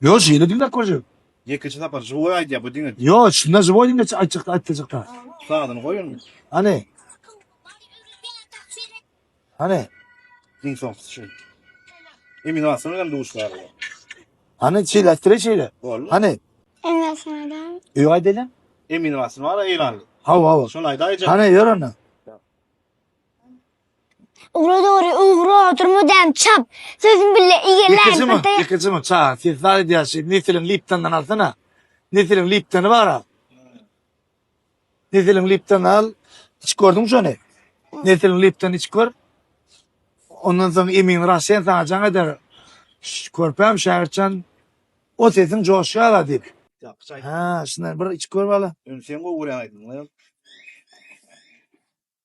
Yo şeýle diňläp görjek. Ýekeje sapar żywoý aýdýar bu diňe. Yo şunda żywoý diňe aýtjakda aýtjakda. Sazyny goý indi. Hany. Hany. Diň soň şu. Emin alsana hem duşlar. Hany şeýle aýtdyra şeýle. Hany. Emin alsana. Yo aýdylan. Emin alsana ara eýranly. Hawa hawa. Şol aýdaýjak. Hany ýör onda. Ugra dogry, ugra, durma däm çap. Sözüm bille eýeläň Ýekejimi, bir taýak. ýekejimi, ça, sen zat edýän şey, Nesiliň Liptondan alsana. Nesiliň Liptony bar-a. Nesiliň Liptony al, içip gördüň şony? Nesiliň Liptony içip gör. Ondan soň emin Rasen sana jaň eder. Ş- Körpäm Şägirtjan, o sesiň joşýar-a diýip. Ýapyş aýt. Ha, şundan bir içip gör bala. Ýöne sen gowy görýäň aýdymyňy.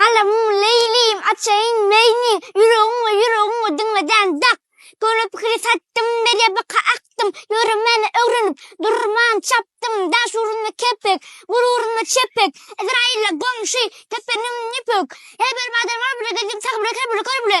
Galamyň Leýlim, açaýyn meýni, Ýüregiň we ýüregiň we diňledän dak. Köne pikiri satdym, Merýe baka akdym, Ýöremäni öwrenip, durman çapdym. Daş ugrunda kepek, gul ugrunda çepek, Ezraýylla goňşy, kepeniň ýüpek. Her bir badyr gol bile, gezdim sahy bile, kör bile, kör bile.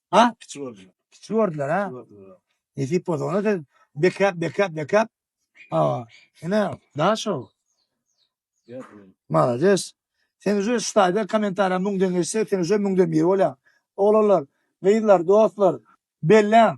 Ha? Kiçi gördüler. Kiçi gördüler ha. Kiçi gördüler. Nesip bolsa ona sen bekap bekap bekap. Ha. Ine daha şov. Malades. Sen uje stayda komentariýa müňden geçse, sen uje müňden biri bolýaň. Oglanlar, gyzlar, dostlar, belläň.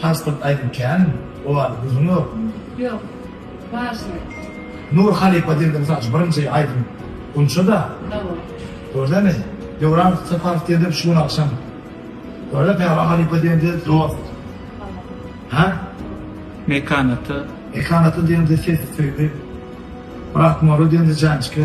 Pasport aýdym känmi? O barada gürrüň ýokmy? Ýok. Wažnyý. Nur halypa diýende mysal üçin birinji aýdym Gunçada. Hawa. Gördemi? Döwran Saparow diýende şu gün agşam. Görde Päwa halypa diýende dost. Hawa. Hä? Mekan ata. Mekan ata diýende sesi söýgi. Myrat Moro diýende janjika.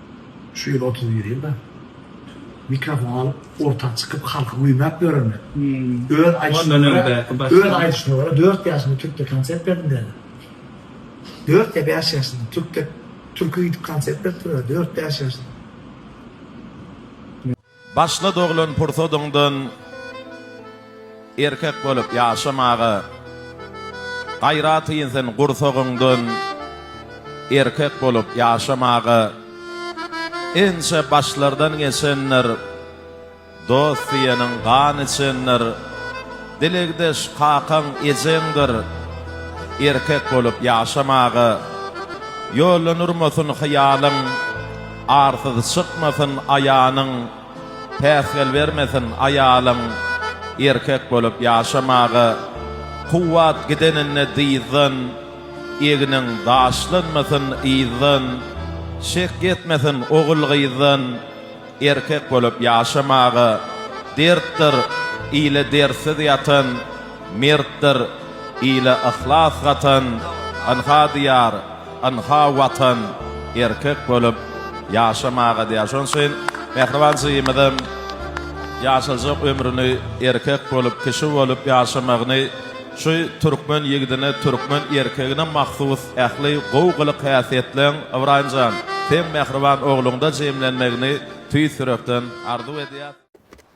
Şu ýyl otuz bir ýylda mikrofon alyp orta çykyp halky güýmäp ýörenler. Öz aýdyşyma görä öz aýdyşyma görä dört ýaşymda türkde konsert berdim diýenler. Dört ýa bäş ýaşymda türkde türki gidip konsert berip dur dört bäş ýaşymda. Başga doglan pursadyňdan erkek bolup ýaşamaga gaýrat ýyn sen gursagyňdan erkek bolup ýaşamaga ençe başlardan geçendir dost diýeniň gan içendir dilegdeş kakaň ejeňdir erkek bolup ýaşamaga ýollanurmasyn hyýalyň Arsyz çykmasyn aýanyň, päsgel bermesin aýalyň, erkek bolup ýaşamaga kuwwat gideninde dyzdan, egniň daşlanmasyn yzdan, şek ýetmesin ogul-gyzdan, erkek bolup ýaşamaga, dertdir, ile dertsiz ýatan, Mertdir, ile yhlas gatan, Ynha Diýar, ynha Watan, erkek bolup ýaşamaga diýýär. Şonuň üçin Mähriban jigimizem ýaşajak ömrüni erkek bolup, kişi bolup ýaşamagyny, şu türkmen ýigidine, türkmen erkegine mahsus ähli gowy gylyk-häsiýetleň, Ybraýym jan, seň mähriban ogluňda jemlenmegini tüýs ýürekden arzuw edýäs.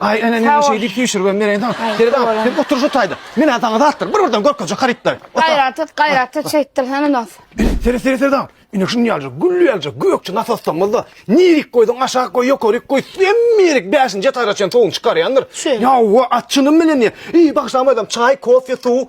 Aý ene men şeý diýip süýşüribem bereýin saňa. Gel bak, sen otur şu taýda. Men saňa zatlar, bir birden görkezjek harytlar. Gaýrat et, gaýrat et, şeýtdir hany nos. Seri seri seri daň. Ine şuny ýaljak, gülli ýaljak, gökçe nasostamyzda. Nirik goýsaň aşak goý, ýokaryk goý, hemme ýerik 5-nji etaža çen sowuny çykarýandyr. Ýa wa açyny bilen ýe. Eý bagşam adam, çaý, kofe, suw.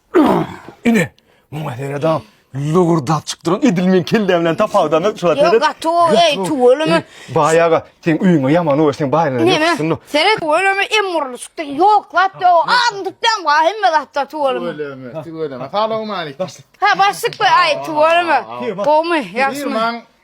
Ine, muňa sereda lowurdap çykdyran edil men kelle bilen tapawdan şu Ýok, seret. gaty o, eý, tüweleme. Baýaga sen öýüňe ýaman o sen baýyna Neme? ýokuşsyny. Seret tüweleme em urly çykdy. Ýok, zat ýok. Adyny tutdan wa hemme zatda tüweleme. Tüweleme, tüweleme. Salam aleyküm. Ha, başlyk be, aý, tüweleme. Gowmy, ýagşymy? Firmaň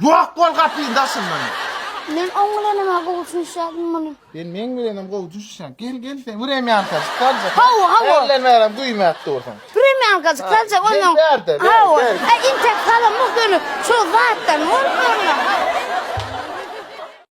Ýok bol gapyny daşyndan. Men oň bilenem-ä gowy düşünişýädim muny. Sen meň bilenem gowy düşünişýäň. Gel, gel sen wremýankajyk galjak. Hawa, hawa. Ärlenmäräm güýmäp dursuň. Wremýankajyk galjak onnoň. Gel bärde, gel, gel. Hawa. Entek galamok ýöne şol zatdan bolmazmy?